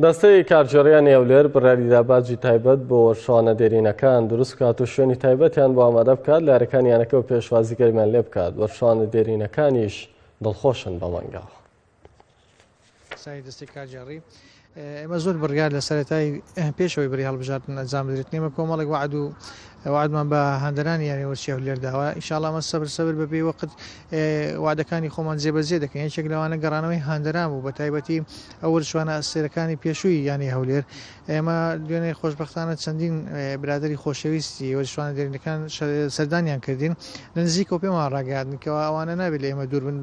دەستەی کارگێڕییانی هەولێر بڕیاریدا باجی تایبەت بۆ وەرچەوانە دێرینەکان دروست بکات و شوێنی تایبەتیان بۆ ئامادە بکات لە یارەکانی یانەکە و پێشوازی گەرمیان لێ بکات وەرچەوانە دێرینەکانیش دڵخۆشن بە مەنگاوە سای دەستی کارگێڕی ئێمە زۆر بڕیار لە سەرەتای پێشەوەی بری هەڵبژاردن ئەنجام بدرێت نیمە کۆمەڵێک وعد و وعدمان بە هەندرانی یانەوەچی هەولێر داوە ئیشاڵامە سەبر سەبر بەبێ وەقت وەعدەکانی خۆمان جێبەجێ دەکەین، یەکێک لەوانە گەڕانەوەی هاندەران بوو، بەتایبەتی ئەو وەرچوانە ئەستێرەکانی پێشووی یانەی هەولێر، ئێمە دوێنێ خۆشبەختانە چەندین برادەری خۆشەویستی وەرچوانە دێرینەکان سەردانیان کردین، لە نزیکەوە پێمان ڕاگەیاندن کەوا ئەوانە نابێت لە ئێمە دوور بن،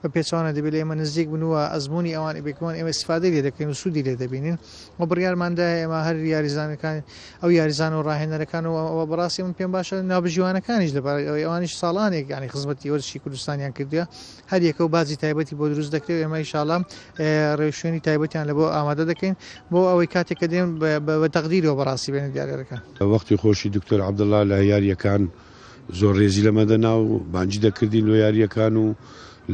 بە پێچەوانە دەبێت لە ئێمە نزیک بن و ئەزموونی ئەوان بێکەوەن ئێمە ئیستیفادەی لێ دەکەین و سوودی لێ دەبینین و بڕیارماندایە ئێمە هەر یاریزانەکان ئەو یاریزان و ڕاهێنەرەکان و ئەوە بەڕاستی من پێم باشە ناوبژیوانەکانیش لەبارەی ئەوەی ئەوانیش ساڵانێک یانی خزمەتی وەرزشی کوردستانیان کردووە هەر یەکە و باجی تایبەتی بۆ دروست دەکرێت ئێمە ئیشاڵام ڕێوشوێنی تایبەتیان لە بۆ ئامادە دەکەین بۆ ئەوەی کاتێک کە دێن بە تەقدیرەوە بەڕاستی بێنە دیارەکە وەختی خۆشی دکتۆر عەبدوڵا لە یارییەکان زۆر رێزی لەمە دەنا و بانگی دەکردین لۆ یارییەکان و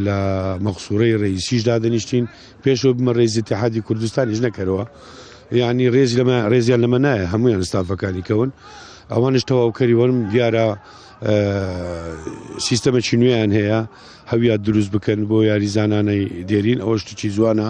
لە مەقسوورەی رئیسیش دادەنیشتین پێشەوە بمە رێزی تحادی کوردستانیش نەکەرەوە یعنی رێزی لەمە رێزیان لەمە نایە هەمویان ستافەکانی کەون ئەوانش تەواوکەری وەرم دیارە سیستەمەکی نوێیان هەیە هەویان دروست بکەن بۆ یاریزانانەی دێرین ئەوە شتکی جوانە